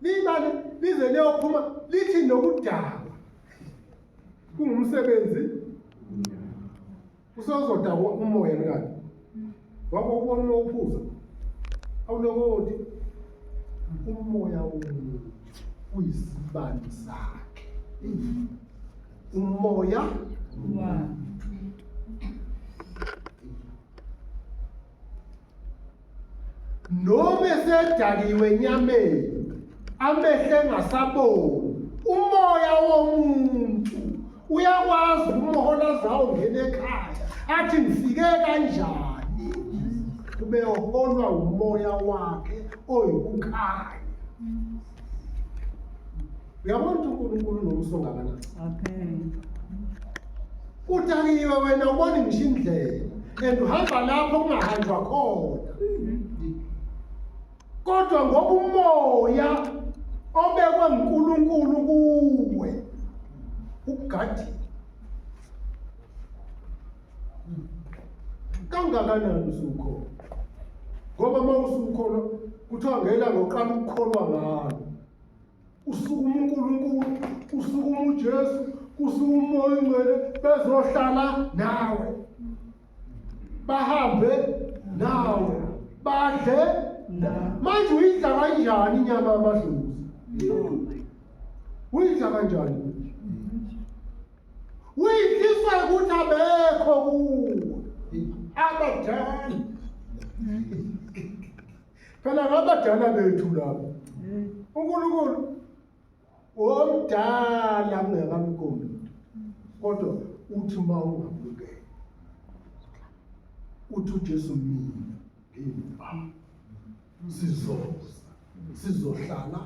Limane lize liyophuma lithi nokudakwa kungumsebenzi usozodakwa umoya mkakhe wabo ubona uwuphuza awulokoti umoya womuntu uyisibani sakhe umoya wakhe noma esedakiwe enyameni amehlo engasaboni umoya womuntu uyakwazi umhola zawo ngene ekhaya athi ngifike kanjani kube uholwa umoya wakhe oyikukhanya uyabona ukuthi unkulunkulu unomso ngakanani okay udakiwe wena ubona ngisho indlela and uhamba lapho kungahanjwa khona kodwa ngoba umoya obekwe ngunkulunkulu kuwe ukugadile kangakanani usukhona ngoba uma usukhona kuthiwa ngelanga uqala ukukholwa ngalo kusukuma uNkulunkulu kusukuma uJesu kusukuma umoya ongcwele bezohlala nawe bahambe nawe badle manje uyidla kanjani inyama yamadlozi uyidla kanjani uyidliswa ukuthi abekho kuwe abadala phela ngabadala bethu lapho uNkulunkulu womdala kungekamqondi kodwa uthi uma ungabukeli uthi uJesu mina ngimba sizoza sizohlala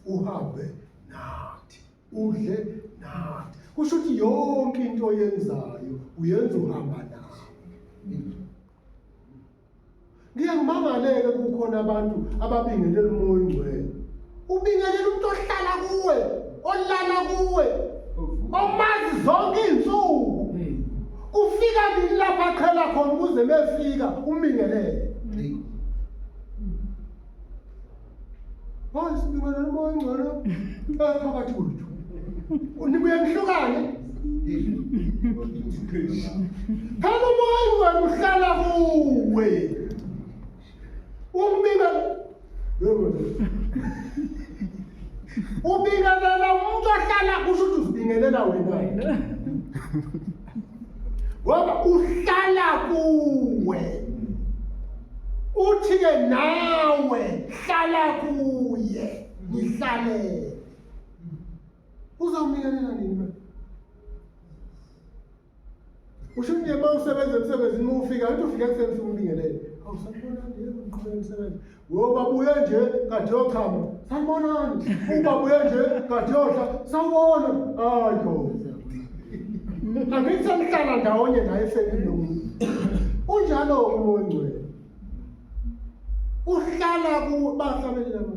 uhambe nathi udle nathi kusho ukuthi yonke into oyenzayo uyenza uhamba nathi Ngiye ngimangaleke kukhona abantu ababingelela umoya ongcwele. Ubingelela umuntu ohlala kuwe, olala kuwe, omazi zonke izinsuku. Kufika nini lapha qhela khona ukuze mefika umbingelele. Wazi nibona noma ongcono phakathi kwethu. Unibuye nihlukane. Phela umoya ungeke uhlala kuwe. Umbika ubingelela umuntu ohlala kusho ukuthi uzibingelela wena. ngoba uhlala kuwe uthi ke nawe hlala kuye ngihlalele uzomnikelela nini usho nje uma usebenza emsebenzini uma ufika uthi ufika ekuseni ufike umbingelele awusakubona nje ngiqhubeka emsebenzini Uyobabuye nje kade yochama sanibonani ubabuye nje kade yohla sawubona hayi gogo angithi senihlala ndawonye naye selinomu unjalo-ke umoya ongcwele uhlala kubahlabelelama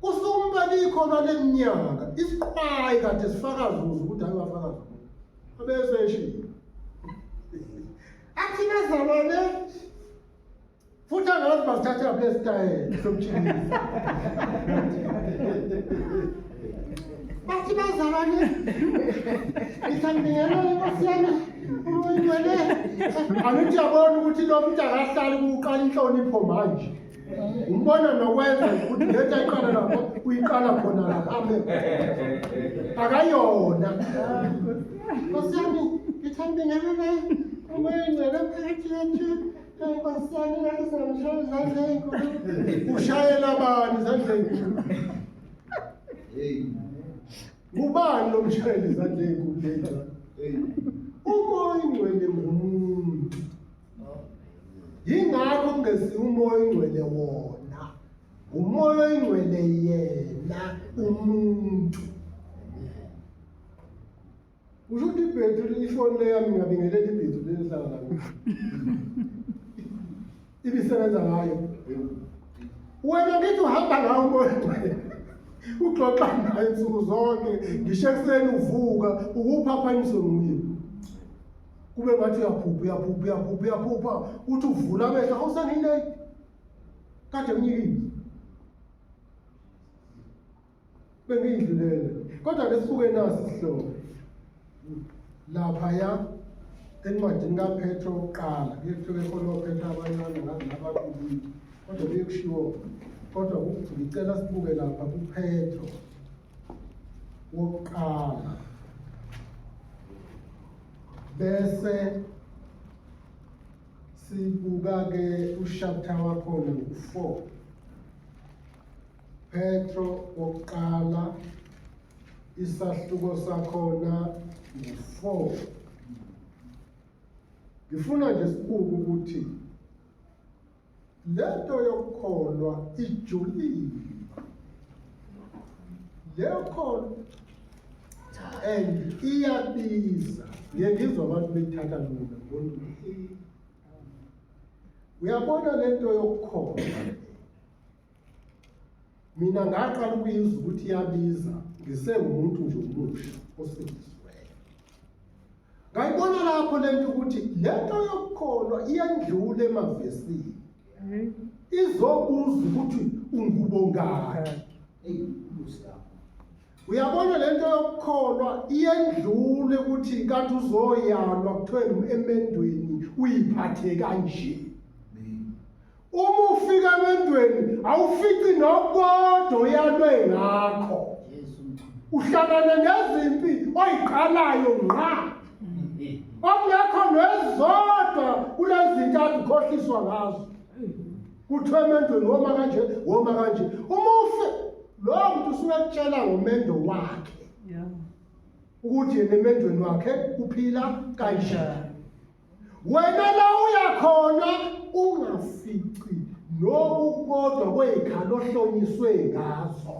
Kusumba likhona leminyaka isiqwayi kade sifakaza umuntu ukuthi ayewafakaza umuntu. Abese eshilo. Athina zalwane futhi angazi basithatha lapha esitayela somjinisa. Bathi bazalwane ngithandingela inkosi yami umncwele. Angithi yabona ukuthi lo muntu akahlali kuqala inhlonipho manje. umbona nokwenza ukuthi lento ayiqala lapho uyiqala khona lapha abe akayona nkosi yami ngithanda ingane umayengcela phakathi yethu nkosi yami ngathi singamshaya izandla ezinkulu ushayela bani izandla ezinkulu ngubani lo mshayeli izandla ezinkulu umoya ingcwele ngumuntu yingakho kungesiye umoya oyingcwele wona umoya oyingcwele yena umuntu usho ukuthi ibhethri ifoni leyami ngabingelela ibhethri lelihlala lami ibisebenza ngayo wena ngithi uhamba ngawo umoya oyingcwele ugxoxa naye nsuku zonke ngisho ekuseni uvuka ukuphaphanyiswe nguye kube ngathi uyaphupha uyaphupha uyaphupha uyaphupha uthi uvula amehlo awusangineki kade mnyikile bengiyidlulele kodwa ke sibuke naso isihlobo laphaya encwadini kaphetro kuqala kuyekuthiwa ekhona ophetha abancane ngazi nabakubili kodwa kuye kushiwo kodwa ngicela sibuke lapha kuphetro wokuqala bese sibuka-ke ushaptha wakhona ngu-four petro wokuqala isahluko sakhona ngu-four ngifuna nje sibuke ukuthi Lento yokukholwa ijulile. Leyokholo and iyabiza. Ngeke ngizwa abantu bethatha lula ngoba uyabona lento yokukholwa. mina ngaqala ukuyizwa ukuthi iyabiza ngisengumuntu nje omusha osindisiweyo ngayibona lapho le nto ukuthi le nto yokukholwa iyandlula emavesini mhm. izobuza ukuthi ungubongakhi uyabona le nto yokukholwa iyendlule ukuthi kanti uzoyalwa kuthiwe emendweni uyiphathe kanje Uma ufika emendweni awufici nokodwa oyalwe ngakho. Uhlangana nezimpi oyiqalayo ngqa. Okungekho nezodwa kulezintathu khohliswa ngazo. Kuthiwa emendweni woma kanje, woma kanje. Uma ufe lowo muntu usuke ekutshela ngomendo wakhe. ukuthi yena emendweni wakhe uphila kanjani wena la uya khona ungafici noku kodwa kwey'khala ohlonyiswe ngazo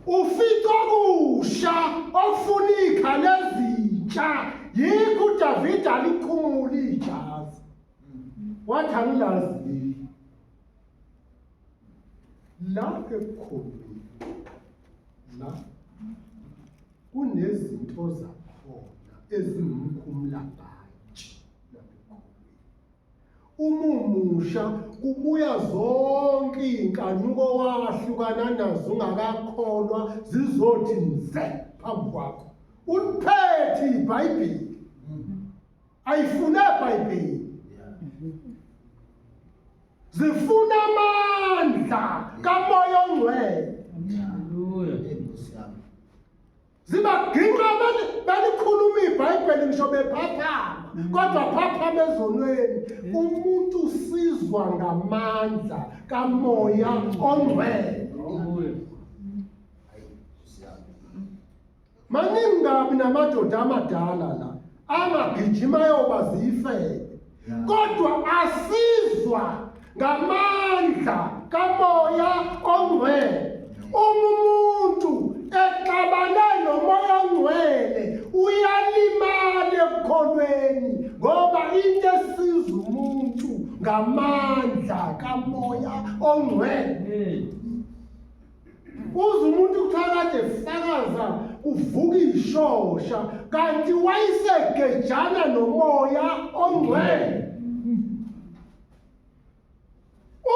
ufica okusha okufuna iy'khala ezintsha yikho udavide alikhumula ijazi wathi angilazi la ekukhulumile la kunezinto zakhona ezingumkhumulabhaji uma umusha kubuya zonke iy'nkanuko wahlukana nazo ungakakholwa zizothi nze phambi kwakho uliphethe ibhayibheli ayifuna ibhayibheli zifuna amandla kamoya ongcwele zibaginqa abantu balikhuluma ibhayibheli ngisho bephaphama kodwa phaphama ezonweni umuntu usizwa ngamandla kamoya ongcwele Maningi kabi namadoda amadala la angagijima yoba ziyifele kodwa asizwa ngamandla kamoya ongcwele uma umuntu exabane nomoya ongcwele uyalimala ekukholweni ngoba into esiza umuntu ngamandla kamoya ongcwele Uze umuntu kuthakade fakaza uvuka ishosha kanti wayisegejana nomoya ongcwele.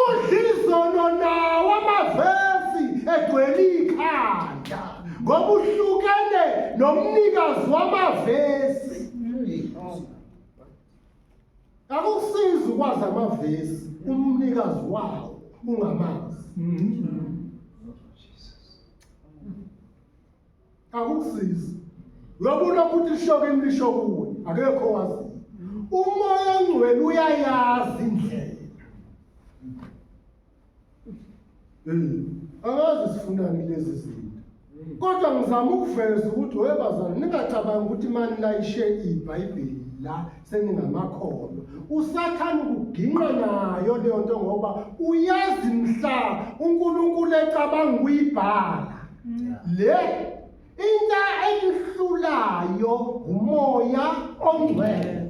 Udlizono nawo amavesi egcwele ikhanda ngoba uhlukene nomnikazi wamavesi. Akusizi ukwazi amavesi umnikazi wawo ungamazi. Akusizi. Uyabona ukuthi ishoke imlisho kuwe akekho wazi. Umoya ongcwele uyayazi indlela. angazi sifunani kulezi zinto kodwa ngizama ukuveza ukuthi we bazali ningacabangi ukuthi mani layishe ibhayibheli la seningamakholwa usathane ukuginqa nayo leyo nto ngoba uyazi mhla unkulunkulu ecabanga ukuyibhala mm. le into eyihlulayo ngumoya ongcwele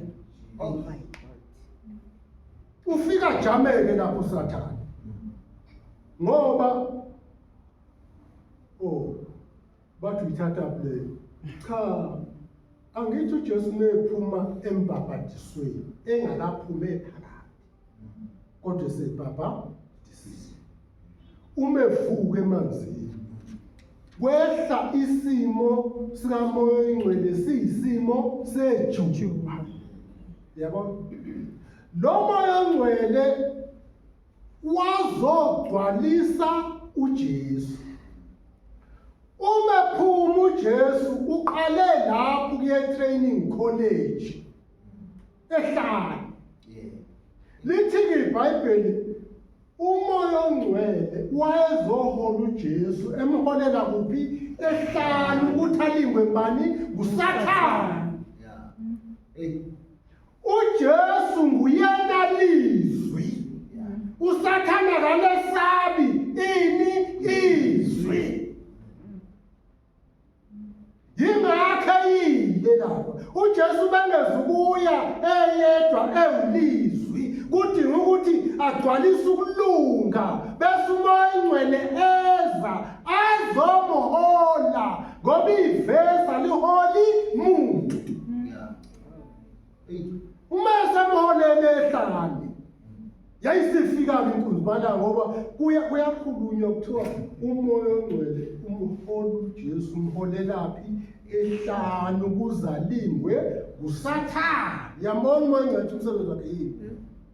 Ufika jameke lapho sathane. Ngoba oh bathi uyithatha play. Cha angithi uJesu nephuma embhabhadisweni engakaphumi ephakathi. Kodwa sebhabha uma evuka emanzini kwehla isimo sikamoya oyingcwele siyisimo sejujuba yabo lo moya ongcwele wazogcwalisa uJesu uma ephuma uJesu uqale lapho kuye training college ehlala yeah lithi iBhayibheli umoya ongcwele wayezohola uJesu emholela kuphi ehlala ukuthi alingwe bani ngusathana uJesu nguyena lizwi usathana kalesabi ini izwi yingakho eyile lapha ujesu bengezukuya eyedwa ewulizwi kudinga ukuthi agcwalise ukulunga bese umoya ingcwele eza azomuhola ngoba ivesa liholi muntu Uma esamholele ehlane yayisifika-ke inkunzi bala ngoba kuya kuyakhulunywa kuthiwa umoya ongcwele umholi ujesu umholelaphi ehlanu kuzalingwe ngusathane yabona uma ngcathi umsebenzi wakhe yini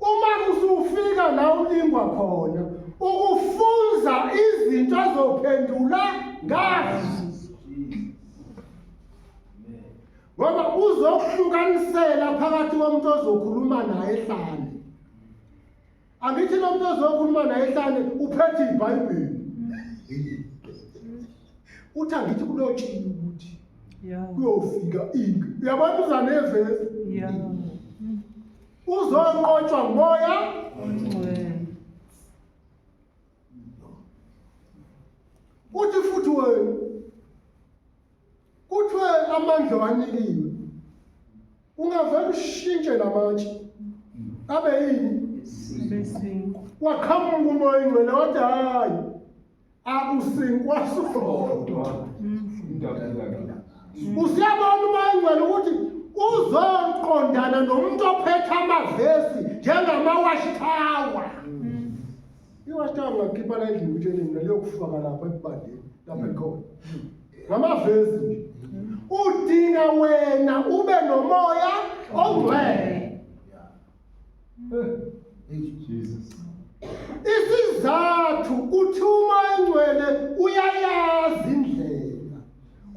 uma usufika la ulingwa khona ukufunza izinto azophendula ngazo ngoba uzokuhlukanisela phakathi komuntu ozokhuluma naye ehlane angithi lo muntu ozokhuluma naye ehlane uphethe ibhayibheli uthi angithi kulotshiwe ukuthi kuyofika into uyabantu uzanevesi uzonqotshwa ngoya uthi futhi wena kuthiwe amandla wanikiwe ungavele ushintshe lamatshe abe yini waqhamuka umoya ingcwele wathi hhayi akusinkwa sodwa usiyabona uma ingcwele ukuthi uzoqondana nomuntu ophethe amavesi njengamawashi tower iwashi tower ngakhipha la endlini ukuthi endlini liyokufaka lapha ebandeni lapha ekhona ngamavesi nje udinga wena ube nomoya ongcwele isizathu uthi uma engcwele uyayazi indlela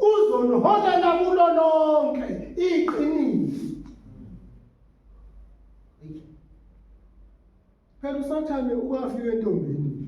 uzoniholela kulo lonke iqiniso phela usathane ukafika entombini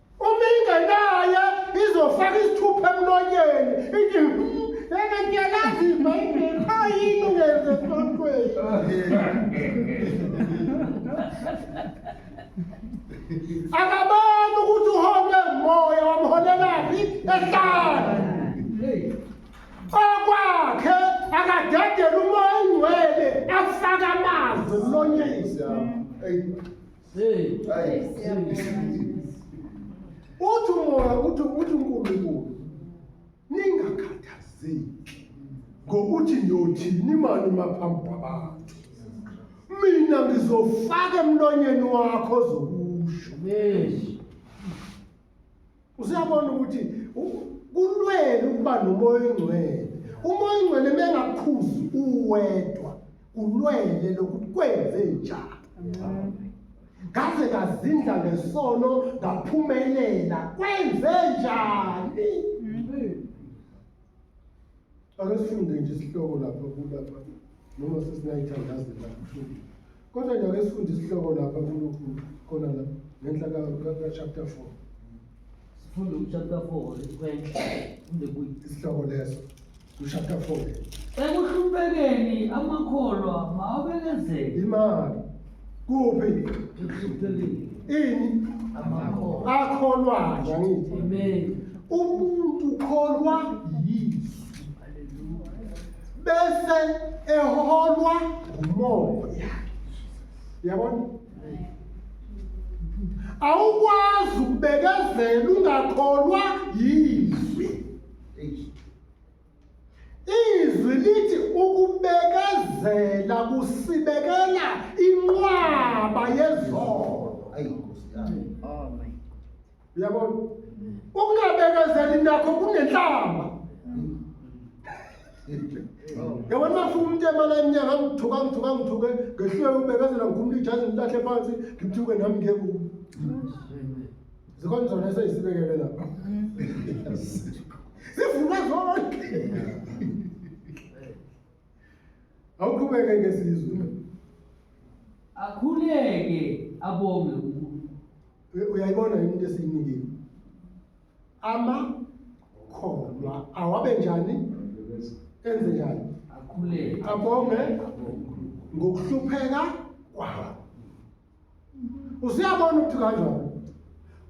Uma ingenaye izofaka isithupha emlonyeni ithi yena ngiyalazi ibhayibheli qha yini ungenze sontweni akaboni ukuthi uholwe ngumoya wamholelaphi ehlala okwakhe akadedele umoya ingcwele afaka amazwi emlonyeni uthi umoya uthi uthi unkulunkulu ningakhathazeki ngokuthi niyothini imali maphambi kwabantu mina ngizofaka emlonyeni wakho zokusho Usuyabona ukuthi kulwele ukuba nomoya oyingcwele. Umoya oyingcwele mengakhuzi uwedwa kulwele lokuthi kwenze njani. Ngaze ngazindla ngesono ngaphumelela kwenze njani? Ake sifunde nje isihloko lapha kulapha noma sesinayithandazi lapha futhi. Kodwa nje ake sifunde isihloko lapha kulokhu khona la ngenhla ka chapter 4. Sifunde u chapter 4 lesikwenhla kumbe kuyi isihloko leso. U chapter 4. Ekuhluphekeni amakholwa mawabekezele. Imali kuphi ini akholwayo angithi umuntu ukholwa yiso bese eholwa ngumoya yabona awukwazi ukubekezela ungakholwa yizwi Izwi lithi ukubekezela kusibekela inqwaba yezono. Ayi Nkosi yami. Oh my. Uyabona? Ukungabekezeli nakho kunenhlamba. Yabona bafuna umuntu emala eminyaka ngithuka ngithuka ngithuke ngehluleka ukubekezela ngikhumula ijazi ngilahle phansi ngithuke nami ngiye kubo. Zikhona zona eseyisibekele lapha. Sivuma zonke. Awuqhubeke ke sizwe. Akhuleke abonge uNkulunkulu. U- Uyayibona yini into esiyinikile? Ama kholwa awabe njani? Enze njani? Akhuleke. Abonge ngokuhlupheka kwawo. usuyabona ukuthi kanjani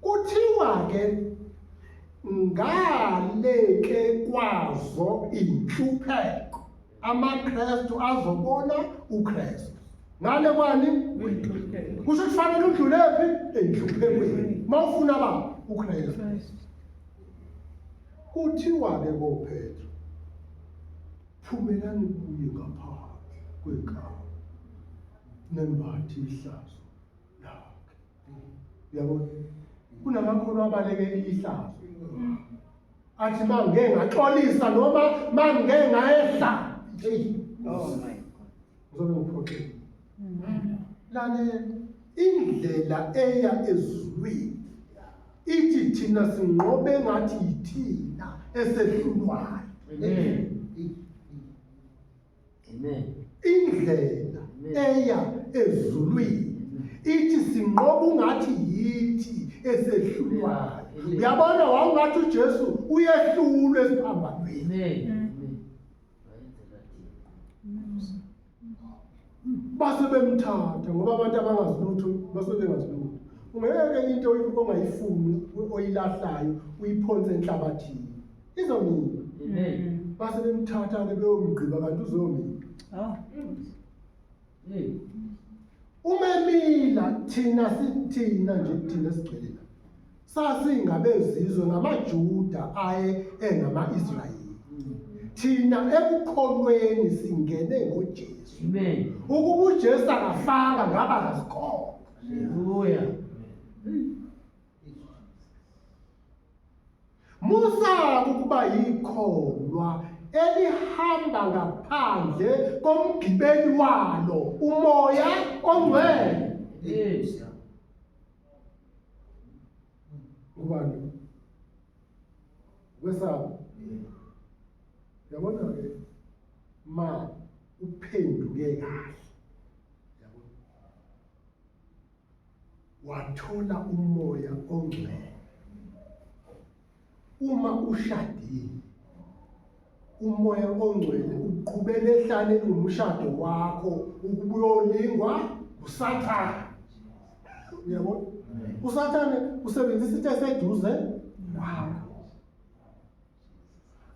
kuthiwa ke ngaleke kwazo inhlupheko amakrestu azobona ukrestu ngale kwani kusho kufanele udlule phi enhluphekweni mawufuna ba ukrestu kuthiwa ke kophethu phumelani kuye ngaphandle kwenkalo nembathi ihlazo lakhe yabo kunamakholwa abalekela ihlazo athi mangeke ngaxolisa noma mangeke ngayehla hey oh my god uzobe uphoxile lale indlela eya ezulwini ithi thina sinqobe ngathi yithina esehlulwayo Amen. Indlela eya ezulwini ithi sinqoba ungathi yithi esehlulwayo. Uyabona wawungathi uJesu uyehlulwe esiphambanweni. Amen. base bemthatha ngoba abantu abangazi lutho base bengazi lutho ungeke into ongayifuni oyilahlayo uyiphonse enhlabathini izomila Amen. base bemthatha-ke beyomgqiba kanti uzomila Oh. Hey. uma emila thina si- thina nje thina sigcwele la sasingabezizwe ngamajuda aye engama-israyeli thina ekukholweni singene ngojesu Amen. ukuba ujesu akafanga ngaba kasikholwa Hallelujah. Musa ukuba yikholwa elihamba ngaphandle komgibeli walo umoya ongcwele yes ubani wesaba yabona ke ma uphenduke kahle wathola umoya ongcwele. Uma ushadile, umoya ongcwele uqhubela ehlane umshado wakho ukuba uyolingwa usathane. Uyabona? Usathane usebenzisa into eseduze wakho.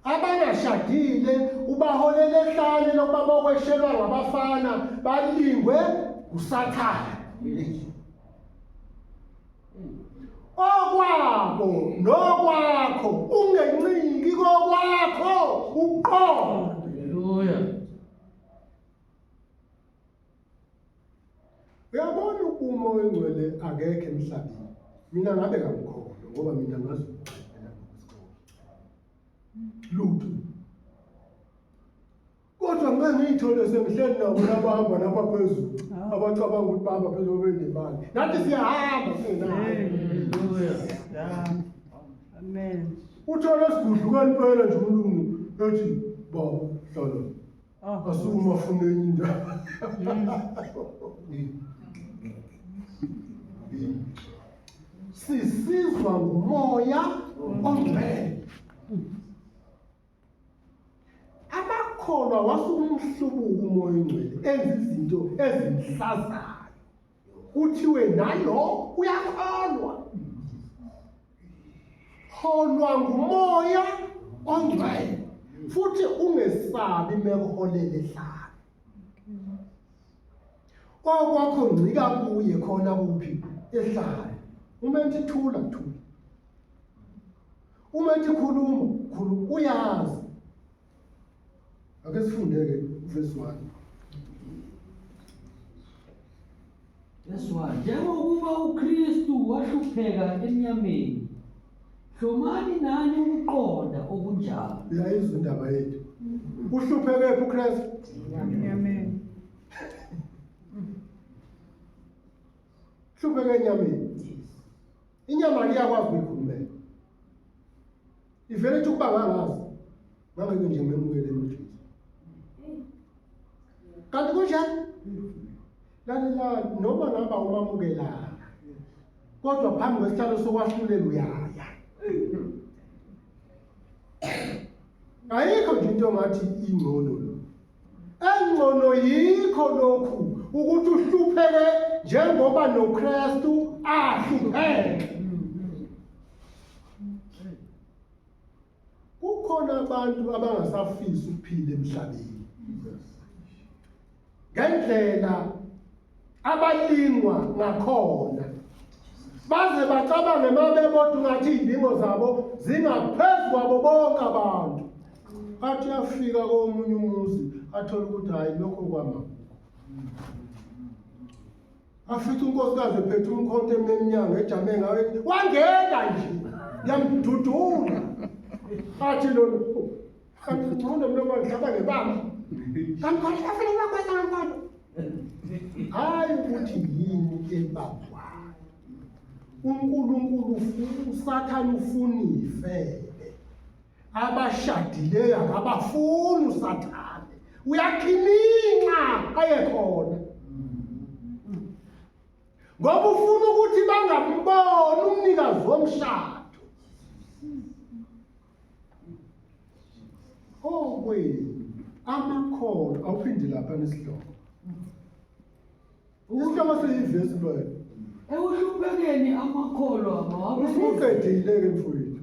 abangashadile ubaholela ehlane lokuba bokweshelwa ngabafana balingwe usathane okwabo nokwakho ungencingi kokwakho uqobo haleluya Uyabona uma oyingcwele akekho emhlabeni. Mina ngabe kamkhona ngoba mina ngazi ukuqaphela ngokusikho. Lutho. Kodwa ngeke ngiyithole sengihleli nabo nabahamba lapha phezulu. Ah. Abacabanga ukuthi bahamba phezulu benemali. Nathi siyahamba singenayo. Amen. Uthole isigudlukani phela nje umlungu ethi baba hlala. Ah, Asukuma afune enye indawo. Sisizwa ngumoya ongcwele. Amakholwa wasukumhlubuka umoya ongcwele enza izinto ezinhlazayo. kuthiwe nalo uyakholwa holwa ngumoya ongcwele futhi ungesabi mekuholele hlala kwakwakho ngcika kuye khona kuphi ehlala uma ethi thula thula uma ethi khuluma khuluma uyazi Ake sifunde-ke uvesi 1. Vesi 1. Njengokuba uKristu wahlupheka enyameni, hlomani nani ukuqonda okunjalo. Uyayizwa indaba yethu. Uhluphekephi uKristu? Enyameni. Hlupheke enyameni. Inyama liyakwazi ukuyikhulumela. ivele ithi ukuba ngangazi ngangeke nje ngimemukele emjini kanti kunjani lalelani noma ngaba umamukelanga kodwa phambi kwesihlalo sokwahlulela uyaya ayikho nje into ngathi ingcono lo engcono yikho lokhu ukuthi uhlupheke njengoba noKristu ahlupheke kukhona abantu abangasafisi ukuphila emhlabeni ngendlela abalingwa ngakhona baze bacabange mabebodwa ngathi izinto zabo zingaphezulu kwabo bonke abantu athi afika komunye umuzi athole ukuthi hayi lokho kwama afica unkosikazi ephethe umkhonto ememnyango ejame ngayo ethi, wangeka nje yamdudula athi lona "Oh, kanti ngcono mlo wangihamba ngebamba kanti khona afele bakwenza ngenkolo hhayi ukuthi yini ebabwayo unkulunkulu ufu- usathane ufuna ifele abashadileyo akabafuni usathane uyakhiminxa ayekhona ngoba ufuna ukuthi bangamboni umnikazi womshado okwenu amakhono awuphindi lapha nesihloko isihloko seyivesi loyo ekuhluphekeni amakholwa mawabe usuqedile-ke mfowethu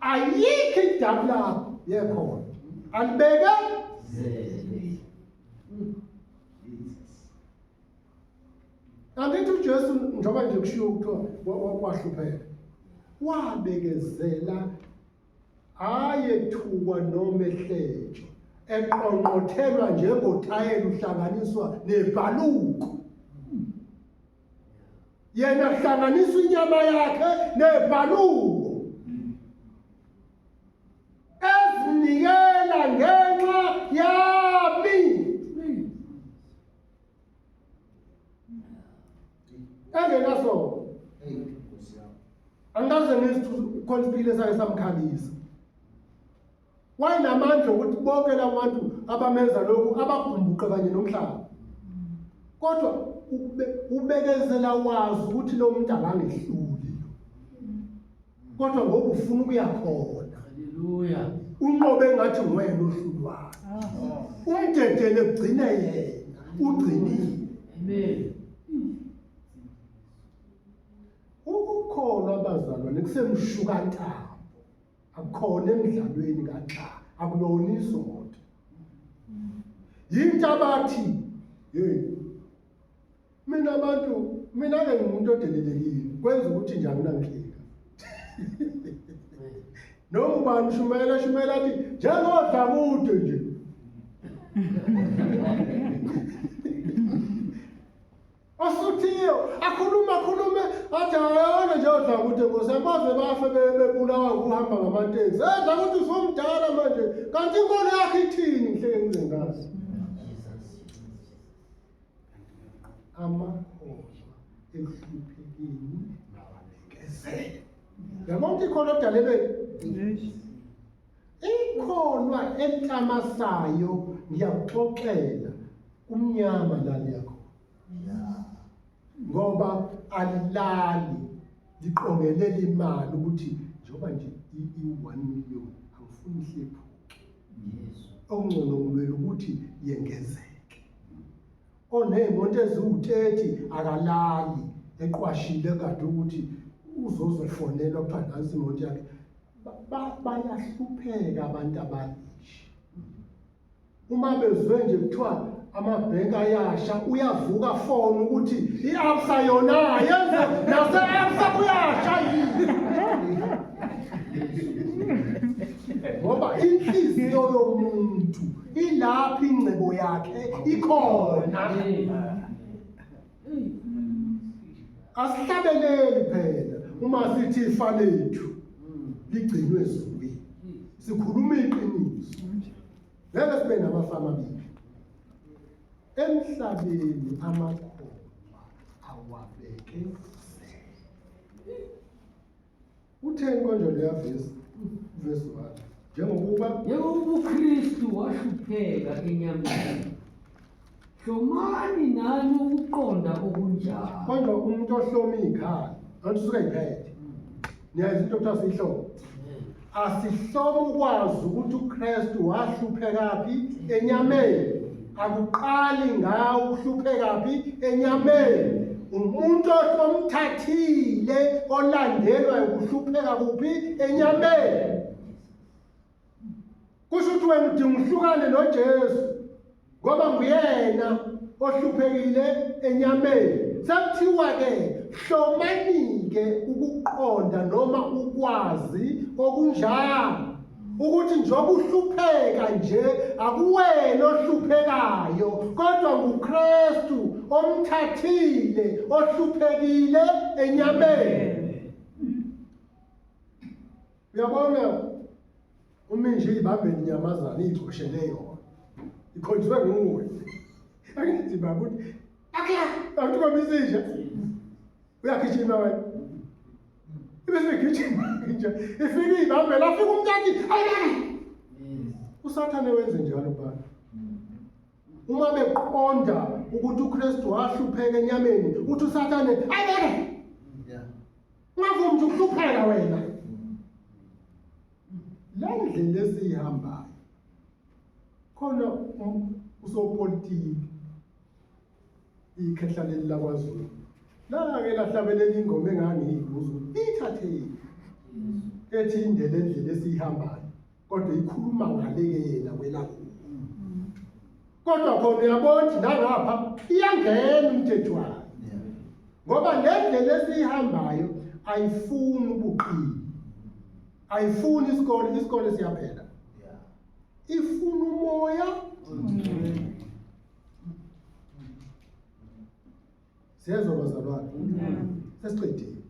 ayikho idamu lakho yekhona alibeke angithi ujesu njengoba nje kushiwo kuthiwa wahlupheka wabekezela ayethukwa noma ehletshwa eqonqothelwa njengothayela uhlanganiswa nebhaluko yena kuhlanganisa inyama yakhe nebhaluko ezinikela ngenxa yami engenaso angikaze ngizithu khona isipile sake samkhalisa Wayenamandla okuthi bonke labantu abamenza lokhu abagumbuqe kanye nomhlaba. Kodwa ubekezela wazi ukuthi lo muntu akangehluli. Kodwa ngoba ufuna ukuya khona. Haleluya. Unqobe ngathi nguyena ohlulwayo. Ah. Umdedele ugcine yena. Ugcinile. Amen. Ukukholwa abazalwane kusemshukantayo. akukhona emidlalweni ngaxa akulona izondo yinto abathi hey mina abantu mina ke ngumuntu odelelekile kwenza ukuthi njani nangihleka noma ubani shumela shumela athi njengodla kude nje Osuthiyo akhuluma khulume athi ayona nje odla ukuthi ngosi amaze bafe be- bebulawa ukuhamba ngamateksi. Edla ukuthi usumdala manje kanti inkolo yakhe ithini nhle ingcikazi. Amakholwa ekuhluphekeni nawabekezele. Yabona ukuthi ikhona odalelweni. Ikholwa enhlamasayo ngiyakuxoxela kumnyama lali yakho. Ngoba alilali liqongelela imali ukuthi njengoba nje i-1 million angifuni ihlephuke. Yes. Okungcono ngilwela ukuthi yengezeke. Oneyimoto eziwu-30 akalali eqwashile kade ukuthi uzozofonelwa kuthiwa nansi imoto yakhe bayahlupheka abantu abaningi uma bezwe nje kuthiwa amabhenki ayasha uyavuka fona ukuthi i-absa yona yenze nase-absa kuyasha yini ngoba inhliziyo yomuntu ilapho ingcebo yakhe ikhona asihlabeleli phela uma sithi ifa lethu ligcinwe ezulwini sikhuluma iqiniso ngeke sibe namafa amabili emhlabeni amakhoba awabeke Utheni konje leya vesi? Vesi 1. Njengokuba njengokuba uKristu wahlupheka enyameni. Hlomani nani ukuqonda okunjalo. Konje umuntu ohloma ikhaya, kanti usuke iphethe. Niyazi into okuthiwa sihlobo. Asihlome ukwazi ukuthi uKristu wahluphekaphi enyameni. Akuqali ngawo ukuhluphekaphi enyameni. Umuntu osomthathile olandelwa ukuhlupheka kuphi enyameni. Kusho ukuthi wena udinga uhlukane noJesu. ngoba nguyena ohluphekile enyameni sekuthiwa-ke hlomanike ukuqonda noma ukwazi okunjalo ukuthi njengoba uhlupheka nje akuwena ohluphekayo kodwa nguKristu omthathile ohluphekile enyameni uyabona Uma nje ibambe inyamazane iyicoshele yona. Ikhonjwe nguwe. Angithi baba uthi akla abantu komisisha. Uyagijima wena. Ibe segijima nje. Ifike ibambe lafika umntaki. Ayay. Usathane wenze njalo baba. Uma beqonda ukuthi uKristu wahlupheka enyameni, uthi uSathane ayeke. Ungavumi ukuthi ukuhlupheka wena. Le ndlela esiyihambayo khona usopolitiki ikhehla leli lakwaZulu lake lahlabelela ingoma engangiyibuza ukuthi ithathephi ethi indlela endlela esiyihambayo kodwa ikhuluma ngale ke yena welapho kodwa khona uyabona ukuthi nangapha iyangena umthetho wayo ngoba le ndlela esiyihambayo ayifuni ubuqili ayifuni isikole isikole siyaphela ifuna umoya ongcwele siyezwa bazalwane sesiqedile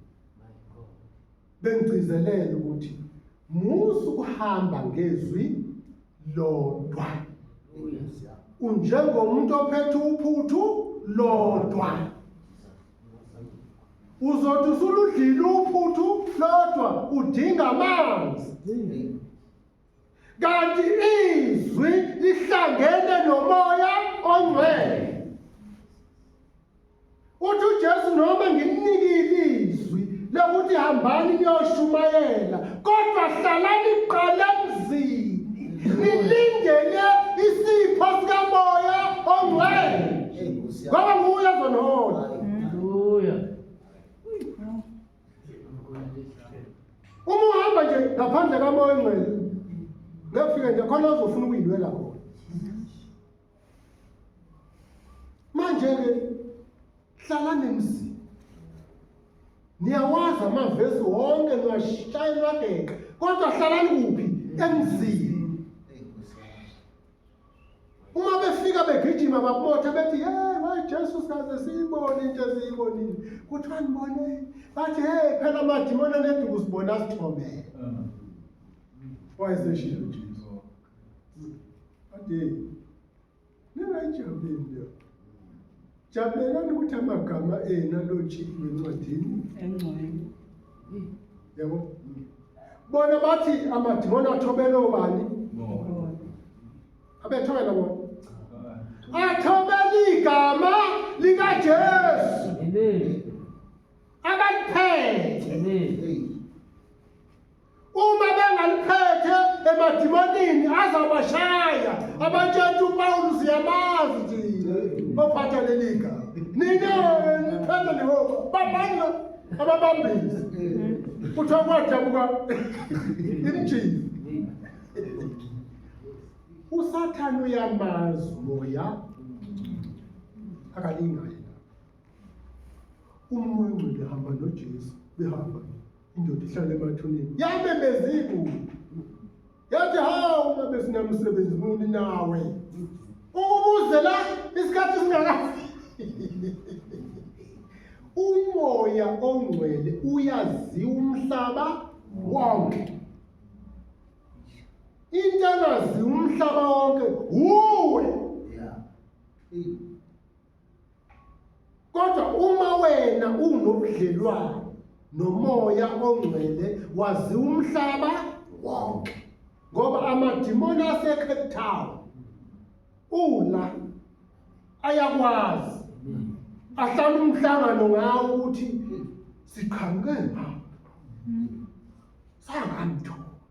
bengigcizelele ukuthi musu kuhamba ngezwi lodwa unjengomuntu ophethe uphuthu lodwa uzothi usuludlile uphuthu lodwa udinga amanzi kanti izwi lihlangene nomoya ongcwele uthi uJesu noma ngimnikile izwi lokuthi hambani niyoshumayela kodwa hlalani qala emzini nilindele isipho sikamoya ongcwele ngoba nguye ozonihola haleluya uma uhamba nje ngaphandle kamoya ongcwele ngekufike nje khona ozofuna ukuyilwela khona manje-ke hlala nemzini niyawazi amavesi wonke niwashaya niwageqa kodwa hlalani kuphi emzini uma befika begijima babotha bethi hey wayi Jesu sikaze siyibone into eziyibonile kuthiwa ngibone bathi hey phela amadimoni aneduku sibona asithobele wayeseshilo Jesu ade ningayijabulile Jabulelani ukuthi amagama enu alotshiwe encwadini engcwele. Yabo. Bona bathi amadimoni athobele obani? Abethobela bona. Athobele igama likaJesu. Amen. Abaliphethe. Amen. Uma bengaliphethe emadimonini azabashaya abatshela uPawulu siyamazi nje baphatha leli gama. Nina niphethe lihoko babanga ababambisi. Kuthiwa kwadabuka imjini. usathane uyamazi moya akalingayo Umoya ongcwele hamba noJesu behamba indoda ihlale emathuneni yamemeza igulu yathi hawu babe sinamsebenzi muni nawe ukubuzela isikhathi singakafi umoya ongcwele uyaziwa umhlaba wonke into engaziwa umhlaba wonke wuwe Kodwa uma wena unobudlelwane nomoya ongcwele wazi umhlaba wonke ngoba amadimoni aseCape Town ula ayakwazi ahlala umhlangano ngawo ukuthi siqhamuke ngapha sangamthola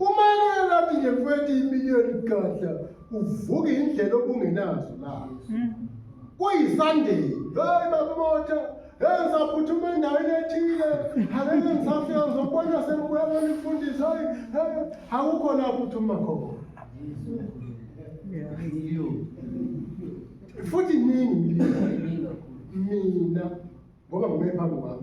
Umayela athi nje mfethu imiliyoni gadla uvuka indlela obungenazo la. Kuyisandeni. Hey bakumotha. Hey saphuthuma endaweni ethile. Akeke ngisafika ngizokubona sengibuya bona ifundisa. Hey akukho la phuthuma khona. Futhi nini mina ngoba ngime phambi kwami.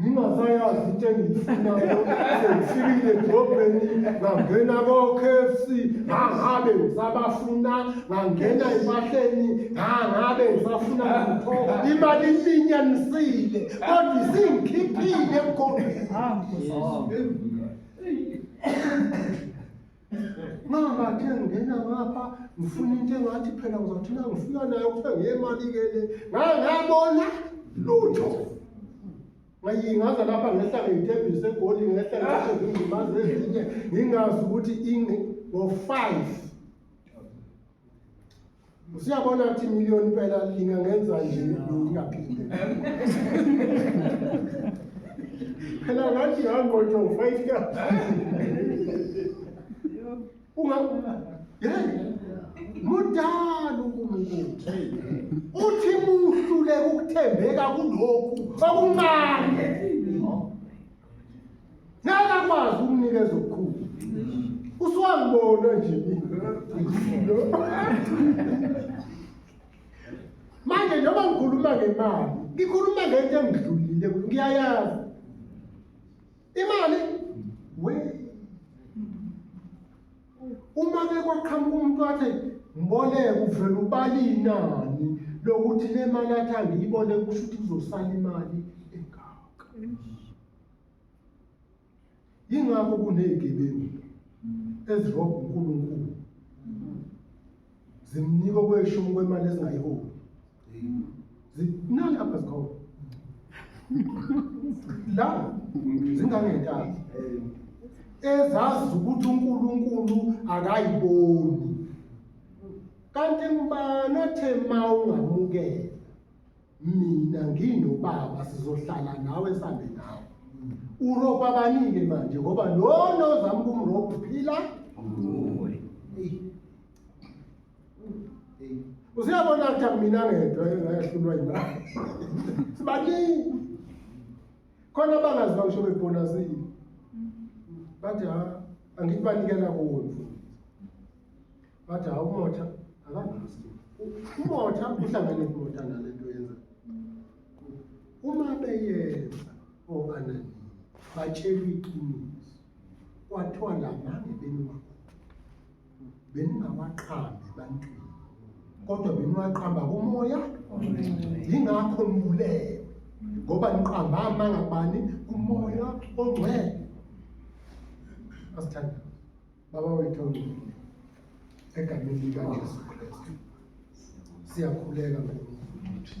ngingasayazi into engiyifunayo sengifikile edrobheni ngangena ko-k f c ngangabe ngisabafuna ngangena empahleni ngangabe ngisafuna lutho imali iminyanisile kodwa isingikhiphile emgombeni Mama ke ngena ngapha ngifuna into engathi phela ngizothi na ngifika nayo kuthe ngiyemali ke le. Ngaye ngabona lutho. Ngayingaza lapha ngehla ngeyitebhisi segoli ngehla ngehla ngimazi ezinye ngingazi ukuthi ingi ngo 5 Usiyabona ukuthi million impela lina ngenza nje ngingaphinde. Phela ngathi ngangqotho 5 ka. Unga Yeah. Mudala uNkulunkulu. Uthi muhlule ukuthembeka kulokhu okuncane. ngeke akwazi ukunikeza okukhulu usuwangibona nje manje njengoba ngikhuluma ngemali ngikhuluma ngento engidlulile ngiyayazi imali we uma ke kwaqhamuka umuntu wathi mboleke uvele ubala inani lokuthi le mali athi angiyibone kusho ukuthi kuzosala imali yingakho kunezigebengu ezirobha uNkulunkulu zimnika okweshumi kwemali ezingayiholi zinani apha zikhona la zingangentaba ezazi ukuthi uNkulunkulu akayiboni kanti mbani othe ma ungamukela mina nginobaba sizohlala nawe sambe nawe uropa abanike manje ngoba lona ozama ukumropa uphila usiyabona ukuthi akumina ngedwa engayahlulwa yimali sibaningi khona abangazwa ngisho bebhonasile bathi ha angithi banikela kuwo mfundisi Bathi hawu umotha akangasti. Umotha uhlangane kumotha nale nto yenza. Uma beyenza okanani batshela iqiniso. Kwathiwa lamange beniwakho. Beningawaqambi ebantwini. Kodwa beniwaqamba kumoya. Yingakho nibulewe. Ngoba niqamba amanga bani kumoya ongcwele. Asithandaze. Baba wethu ongcwele, egameni likaJesu Kristu siyakhuleka ngokuthi